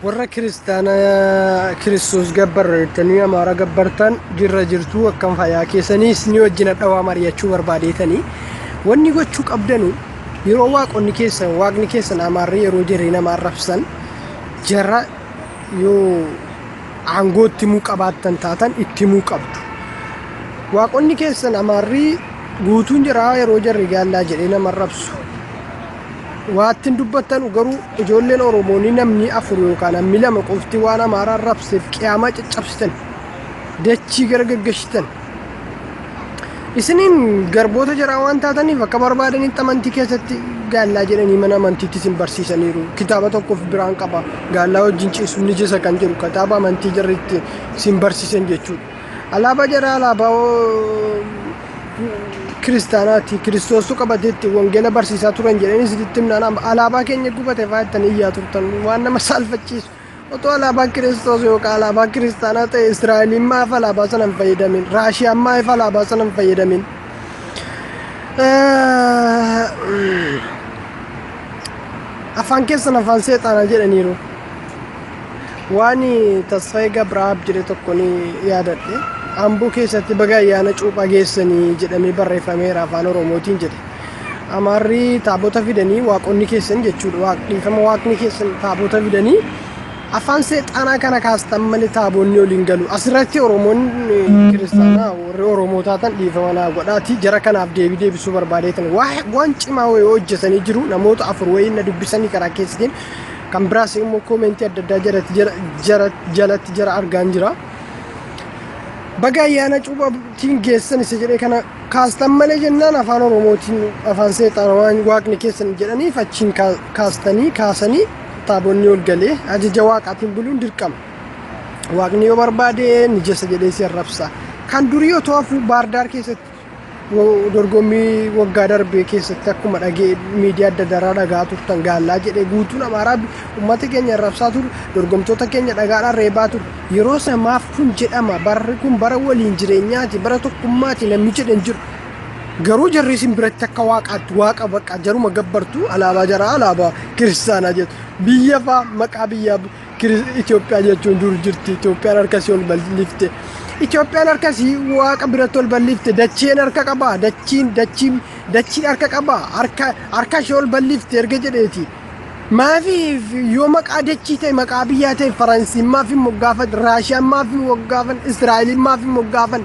warra kiristaana kiristoos gabbarra jettanii amaara gabbartan jirra jirtuu akkam fayyaa keessaniis ni wajjin dhawaa mari'achuu barbaadeetanii wanni gochuu qabdanu yeroo waaqonni keessan waaqni keessan amaarri yeroo jirree nama arrabsan jara yoo aangoo itti himuu qabaattan taatan itti himuu qabdu waaqonni keessan amaarri guutuun jiraa yeroo jarri gaallaa jedhee nama arrabsu Waattin dubbattanu garuu ijoolleen Oromoo ni namni afur yookaan hammi lama qofti waan Amaaraan rabseef qiyaamaa caccabsitan dachii gara gaggashitan. Isiniin garboota jaraa waan taataniif akka barbaadanitti amantii keessatti gaallaa jedhanii mana amantiitti isin barsiisaniiru. Kitaaba tokkoof biraan qaba. Gaallaa wajjin ciisuun ni jisa kan jedhu kitaaba amantii jarri itti isin barsiisan jechuudha. Alaabaa jaraa alaabaa kiristaanaati. Kiristoostu qabateetti wangeela barsiisaa turan jedhanii sitti himnaan alaabaa keenya gubate fa'aa ittiin iyyaa turtan waan nama saalfachiisu. Otoo alaabaa kiristoos yookaan alaabaa kiristaanaa ta'e Israa'eliin maaf alaabaa sana hin fayyadamin? Raashiyaan maaf alaabaa sana hin fayyadamin? Afaan keessan afaan seexaanaa jedhaniiru. Waani Tasfayee Gabraab jedhe tokko ni yaadadhe. Amboo keessatti baga ayyaana cuuphaa geessanii jedhamee barreeffameera afaan Oromootiin jedhe. Amaarri taabota fidanii waaqonni keessan jechuudha. Waaq- Dhiifama waaqni keessan taabota fidanii afaan seexaanaa kana kaastan malee taabonni waliin galu. Asirratti Oromoonni kiristaanaa warri Oromoo taatan dhiifama naa godhaati. Jara kanaaf deebii deebisuu barbaadeetan. Waa- Waan cimaa wayii hojjetanii jiru. Namoota afur wayii na dubbisanii karaa keessaniin Kan biraas immoo koomentii adda addaa jalatti jala- jala- jalatti jara argaan jira. Baga ayyaana cuuphatiin geessan isa jedhee kana kaastan malee jennaan afaan oromootiin afaan seexaana waan waaqni keessan jedhaniif achiin kaa- kaastanii kaasanii taabonni ol galee ajaja waaqaatiin buluun dirqama. Waaqni yoo barbaade mijessa jedhee si arrabsa. Kan durii otoo hafuu baardaar keessatti dorgommii waggaa darbee keessatti akkuma dhagee miidiyaa adda addaa dhagaa turtan gaallaa jedhee guutuun amaaraa uummata keenya arrabsaa ture dorgomtoota keenya dhagaadhaan reebaa ture yeroo samaaf kun jedhama barri kun bara waliin jireenyaati bara tokkummaati namni jedhan jiru garuu jarri isin biratti akka waaqaatti waaqa baqa jaruma gabbartu alaabaa jaraa alaabaa kiristaanaa jettu biyya faa maqaa biyyaa Itoophiyaa jechuun dur jirti. Itoophiyaan harkasii ol bal'ifte. Itoophiyaan harkasii waaqa biratti ol bal'ifte. Dacheen harka qabaa. Dachiin dachiin dachiin harka qabaa. Harka harka ishee ol bal'ifte erga jedheeti. Maafiif yoo maqaa dachii ta'e maqaa biyyaa ta'e Faransiin maaf hin moggaafan Raashiyaan maaf hin moggaafan Israa'eliin maaf hin moggaafan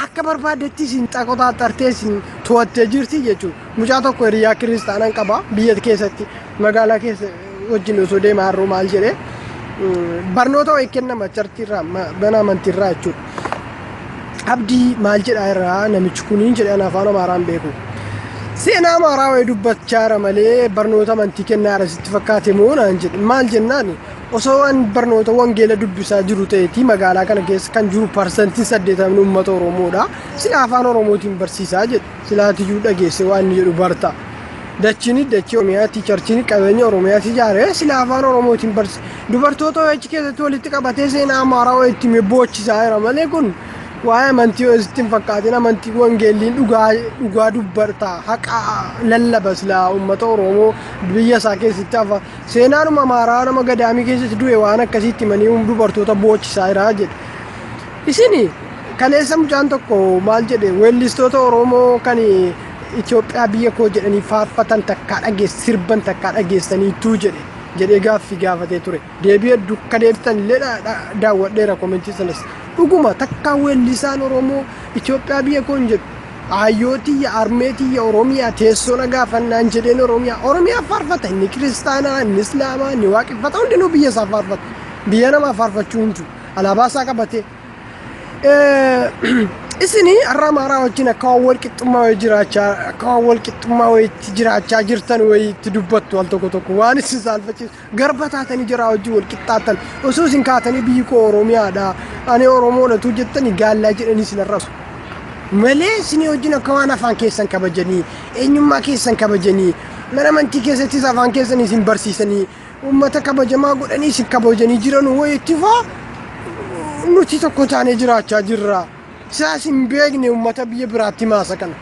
akka barbaadetti isin xaqotaa xartee isin to'attee jirti jechuudha. Mucaa tokko hiriyaa kiristaanaan qaba biyya keessatti magaalaa keessa wajjin osoo deema harroo maal jedhe barnoota wayii kennama chartiirraa mana amantiirraa jechuudha. Abdii maal jedhaa irraa namichi kuniin jedhan afaan amaaraan beeku. Seenaa amaaraa wayii dubbachaa jira malee barnoota amantii kennaa jira sitti fakkaate moo naan jedhe maal jennaan osoo waan barnoota wangeela dubbisaa jiru ta'eeti magaalaa kana keessa kan jiru parsantiin saddeetamni uummata Oromoodha sila afaan Oromootiin barsiisaa jedhe. silaatiyyuu dhageesse waan inni jedhu barta. Dachiin dachii Oromiyaati, charchiin qabeenya Oromiyaati ijaare sila afaan Oromootiin barsi. Dubartoota OH keessatti walitti qabatee seenaa Amaaraa OH itti boochisaa jira malee kun waa'ee amantii OH itti hin fakkaatin amantii wangeelliin dhugaa dhugaa dubbarta haqa lallaba sila uummata Oromoo biyya isaa keessatti hafa seenaanuma Amaaraa nama gadaamii keessatti du'e waan akkasiitti manii dubartoota boochisaa jira jedhe. Isin kaleessa mucaan tokko maal jedhe weellistoota Oromoo kan Itoophiyaa biyya koo jedhanii faarfatan takkaa dhageess sirban takkaa dhageessaniituu jedhe jedhee gaaffii gaafatee ture. Deebii hedduu akka deebitan illee dha- dha- daawwadheera komentii sanas. Dhuguma takkaa weellisaan Oromoo Itoophiyaa biyya koo hin jedhu. Aayyoo tiyya, armee tiyya, Oromiyaa, teessoo na gaafannaan jedheen Oromiyaa. Oromiyaa faarfata inni kiristaanaa, inni islaamaa, inni waaqeffata hundinuu biyya isaa faarfata. Biyya namaa faarfachuu hin jiru. Alaabaa isaa qabatee. Isin har'a Amaaraa wajjin akka waan wal qixxummaa wayii jiraachaa akka waan wal qixxummaa wayiitti jiraachaa jirtan wayiitti dubbattu al tokko tokko waan isin saalfachiisu garba taatanii jiraa wajjin wal qixxaatan osoo isin kaatanii biyyi koo Oromiyaadha ani Oromoodha tuu jettanii gaallaa jedhanii isin arrasu. malee isinii wajjin akka waan afaan keessan kabajanii eenyummaa keessan kabajanii mana amantii keessattis afaan keessan isin barsiisanii Uummata kabajamaa godhanii isin kabajanii jiran wayiitti faa nuti tokko taanee jiraachaa jirra. Siyaas hin beekne uummata biyya biraatti maasa kana.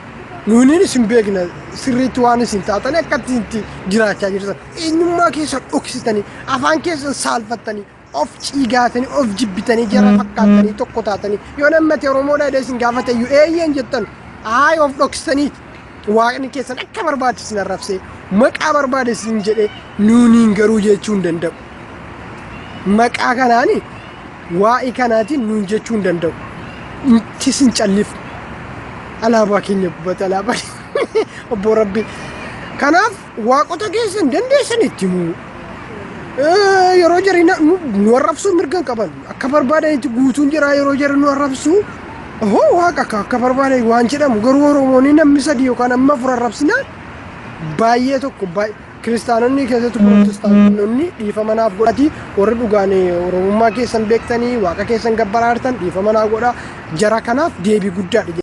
Nuuniin isin beekna sirriitti waan isin taatanii akkatti itti jiraachaa jirtan. Eenyummaa keessan dhoksitanii afaan keessan saalfattanii of ciigaatanii of jibbitanii jara fakkaattanii tokko taatanii yoo namni Oromoodha jedhee isin gaafate iyyuu eeyyeen jettan haay of dhoksitanii waaqni keessan akka barbaade isin arrabsee maqaa barbaade isin jedhee nuuniin garuu jechuu hin danda'u. Maqaa kanaani waa'ee kanaatiin nuun jechuu hin danda'u. Nuti isin calliif alaabaa keenya gubbata alaabaa obbo Rabbi. Kanaaf Waaqota keessan dandeessan itti himuu. Eh, Yeroo jarri na- nu nu arrabsuu mirga hin qaban. Akka barbaadanitti guutuun jira yeroo jarri nu arrabsuu. Hoo waaqa akka akka barbaadan waan jedhamu garuu Oromoonni namni sadii yookaan amma afur arrabsinaan baay'ee tokko baay'ee kiristaanonni keessatti pirootestaanonni dhiifama naaf godhati warri dhugaan oromummaa keessan beektanii waaqa keessan gabbaraartan dhiifama naa godha jara kanaaf deebii guddaadha